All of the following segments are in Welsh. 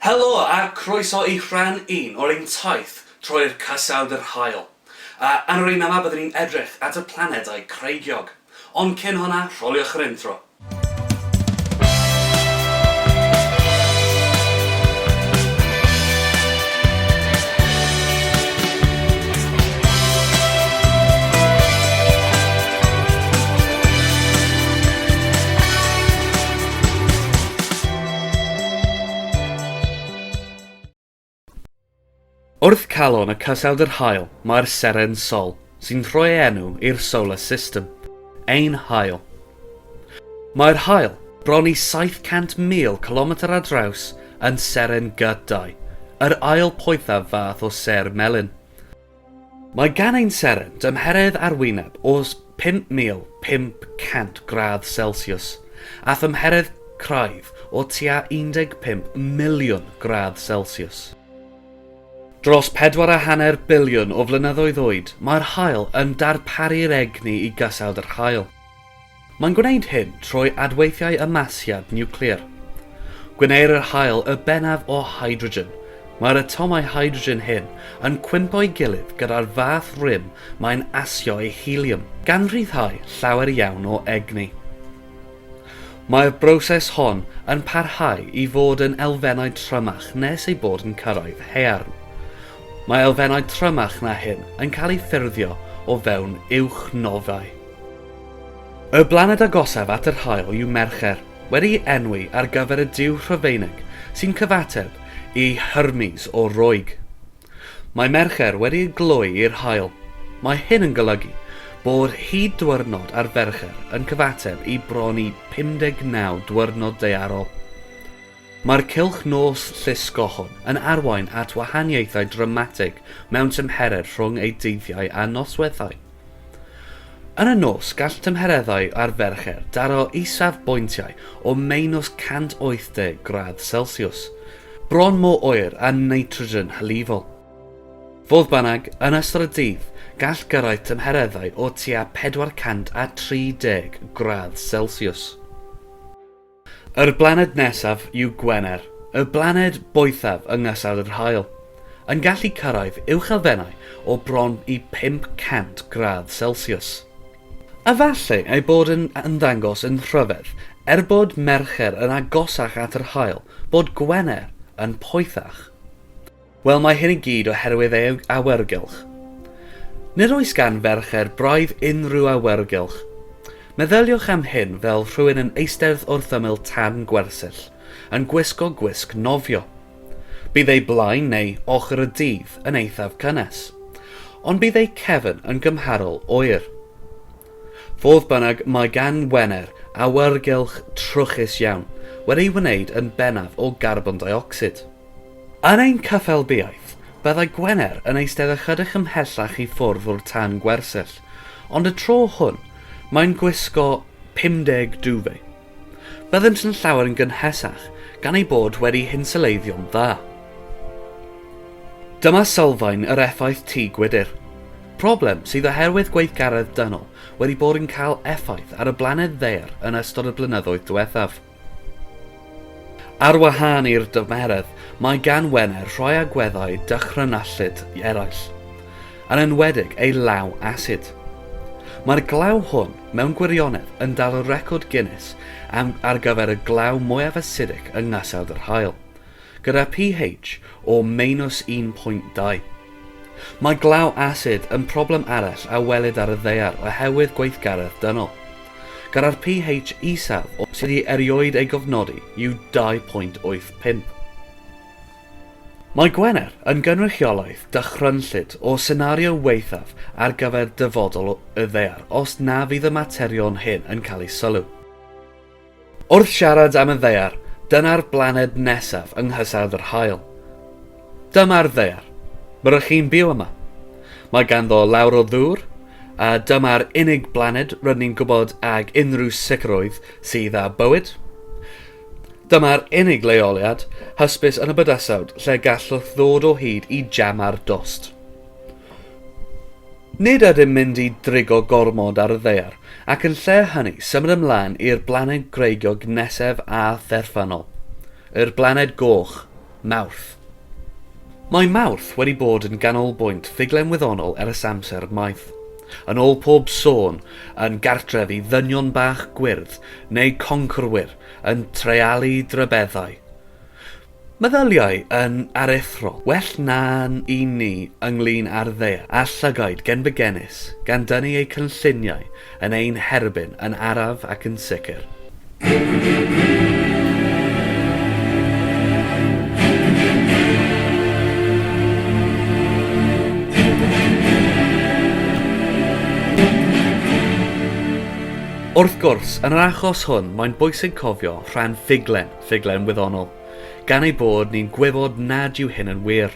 Helo a chroeso i rhan un o'r ein taith troi i'r Cysawd yr Haul. A yn yr un yma byddwn ni'n edrych at y planedau creigiog. Ond cyn hwnna, rholiwch yr intro. Wrth calon y Cysawd yr Haul mae'r seren Sol, sy'n rhoi ei enw i'r Solar System, ein haul. Mae'r haul, bron i 700,000 cilometr ar draws, yn seren G2, yr ail poethaf fath o sêr melyn. Mae gan ein seren dymheredd arwyneb o 5,500 gradd Celsiws a thymheredd craidd o tua 15 miliwn gradd Celsiws. Dros pedwar a hanner biliwn o flynyddoedd oed, mae'r haul yn darparu'r egni i gasawd yr haul. Mae'n gwneud hyn trwy adweithiau ymasiad niwclear. Gwneir yr haul y bennaf o hydrogen. Mae'r atomau hydrogen hyn yn cwympo'i gilydd gyda'r fath rym mae'n asio ei helium, gan ryddhau llawer iawn o egni. Mae'r broses hon yn parhau i fod yn elfennau trymach nes ei bod yn cyrraedd haearn. Mae elfennau trymach na hyn yn cael eu ffurfio o fewn uwch nofâu. Y blaned agosaf at yr haul yw Mercher, wedi'i enwi ar gyfer y duw Rhufeinig sy'n cyfateb i Hermes o'r Roeg. Mae Mercher wedi ei gloi i'r haul. Mae hyn yn golygu bod hyd diwrnod ar Fercher yn cyfateb i bron i 59 diwrnod daearol. Mae'r cylch nos llusgo hwn yn arwain at wahaniaethau dramatig mewn tymheredd rhwng ei dyddiau a nosweithiau. Yn y nos, gall tymhereddau ar Fercher daro isafbwyntiau o meinws 180 gradd Celsiws, bron mor oer â nitrogen hylifol. Fodd bynnag, yn ystod y dydd, gall gyrraedd tymhereddau o tua 430 gradd Celsiws. Yr blaned nesaf yw Gwener, y blaned boethaf yng Ngastell yr Haul, yn gallu cyrraedd uwchelfennau o bron i 500 gradd Celsius. Efallai ei bod yn ymddangos yn rhyfedd, er bod Mercher yn agosach at yr Haul, bod Gwener yn poethach. Wel mae hyn i gyd oherwydd ei awyrgylch. Nid oes gan ferched braidd unrhyw awyrgylch. Meddyliwch am hyn fel rhywun yn eistedd wrth ymyl tân gwersyll, yn gwisgo gwisg nofio. Bydd ei blaen neu ochr y dydd yn eithaf cynnes, ond bydd ei cefn yn gymharol oer. Fodd bynnag, mae gan Wener awyrgylch trwchus iawn, wedi'i wneud yn bennaf o garbon deuocsid. Yn ein caffael biaeth, byddai Gwener yn eistedd ychydig ymhellach i ffwrdd o'r tân gwersyll, ond y tro hwn, mae'n gwisgo 50 duvet. Byddent yn llawer yn gynhesach, gan eu bod wedi hinsylleiddio'n dda. Dyma sylfaen yr effaith tŷ gwydr. Problem sydd oherwydd gweithgaredd dynol wedi bod yn cael effaith ar y blaned ddaear yn ystod y blynyddoedd diwethaf. Ar wahân i'r dymeredd, mae gan Wener rhai agweddau dychrynallyd eraill, yn enwedig ei law asid. Mae'r glaw hwn, mewn gwirionedd, yn dal y record Guinness am ar gyfer y glaw mwyaf asidic yng Nghasawd yr Haul. gyda pH o meinws 1.2. Mae glaw asid yn problem arall a welid ar y ddaear oherwydd gweithgaredd dynol, gyda'r pH isaf o sydd i erioed ei gofnodi yw 2.85. Mae Gwener yn gynrychiolaeth dychrynllyd o senario waethaf ar gyfer dyfodol y ddaear os na fydd y materion hyn yn cael eu sylw. Wrth siarad am y ddaear, dyna'r blaned nesaf yng nghysawd yr haul. Dyma'r ddaear. Mae rŷch chi'n byw yma. Mae ganddo lawr o ddŵr, a dyma'r unig blaned rŷn ni'n gwybod ag unrhyw sicrwydd sydd â bywyd. Dyma'r unig leoliad hysbys yn y bydysawd lle gallwch ddod o hyd i jam ar dost. Nid ydym mynd i drigo gormod ar y ddaear, ac yn lle hynny, symud ymlaen i'r blaned gwreiddiog nesaf a therfynol, yr blaned goch, Mawrth. Mae Mawrth wedi bod yn ganolbwynt ffuglen wyddonol ers amser maith. Yn ôl pob sôn, yn gartref i ddynion bach gwyrdd, neu conquerwyr, yn treialu drybeddau. Meddyliau yn aruthrol, well na'n un ni ynglŷn â'r ddaear a llygaid gen fy genis, gan dynnu eu cynlluniau yn ein herbyn yn araf ac yn sicr. Wrth gwrs, yn yr achos hwn, mae'n bwysig cofio rhan ffuglen. ffuglen wyddonol, gan ei bod ni'n gwybod nad yw hyn yn wir.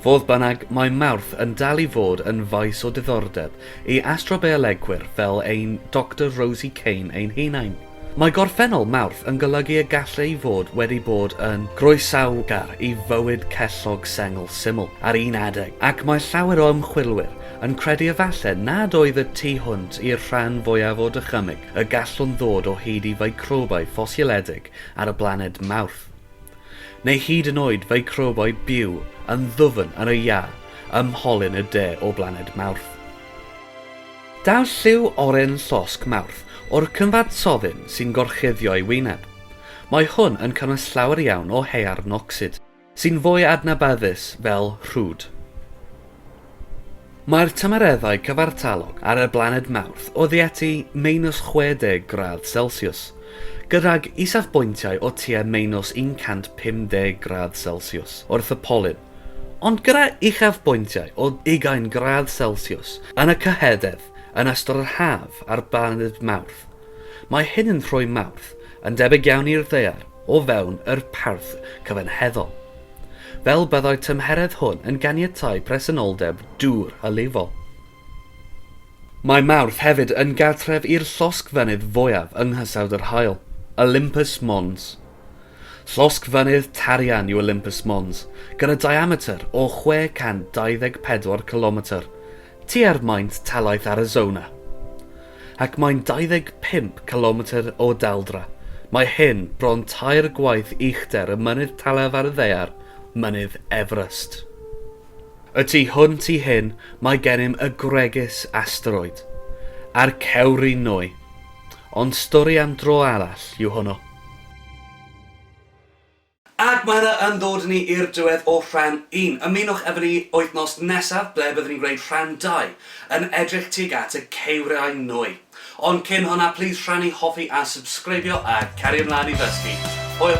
Fodd bynnag, mae Mawrth yn dal i fod yn faes o diddordeb i astrobiolegwyr fel ein Doctor Rosie Kane ein hunain. Mae gorffennol Mawrth yn golygu y gall ei fod wedi bod yn groesawgar i fywyd cellog sengl syml ar un adeg, ac mae llawer o ymchwilwyr yn credu efallai nad oedd y tu hwnt i'r rhan fwyaf o dychymyg y gallwn ddod o hyd i ficrobau ffosioledig ar y blaned Mawrth, neu hyd yn oed ficrobau byw yn ddwfn yn y iâ ym mholyn y de o blaned Mawrth. Daw lliw oren llosg Mawrth o'r cyfansoddyn sy'n gorchuddio ei wyneb. Mae hwn yn cynnwys llawer iawn o haearn ocsid. Sy'n fwy adnabyddus fel rhwd. Mae'r tymereddau cyfartalog ar y blaned Mawrth oddeutu meinws 60 gradd Celsiws, gydag isafbwyntiau o tua meinws 150 gradd Celsiws wrth y polyn, ond gyda uchafbwyntiau o ugain gradd Celsiws yn y cyhydedd yn ystod yr haf ar blaned Mawrth. Mae hyn yn rhoi Mawrth Yn debyg iawn i'r ddaear o fewn yr parth cyfanheddol. Fel byddai'r tymheredd hwn yn ganiatáu presenoldeb dŵr hylifol. Mae Mawrth hefyd yn gartref i'r llosgfynydd fwyaf yng nghysawd yr haul, Olympus Mons. Llosgfynydd tarian yw Olympus Mons, gyda diametr o 624 cilometr, Tua'r maint talaith Arizona. Ac mae'n 25 cilometr o daldra. Mae hyn bron tair gwaith uchder y mynydd talaf ar y ddaear, Mynydd Everest. Y tu hwnt i hyn mae gennym y gwregys asteroid, a'r cewri nwy. Ond stori am dro arall yw hwnnw. Ac mae hynna yn dod â ni i'r diwedd o rhan un. Ymunwch efo ni wythnos nesaf ble byddwn ni'n gwneud rhan dau, yn edrych tuag at y ceiriau nwy. Ond cyn hwnna, plîs rhannu, hoffi a subscribio a cario ymlaen i ddysgu. Hwyl!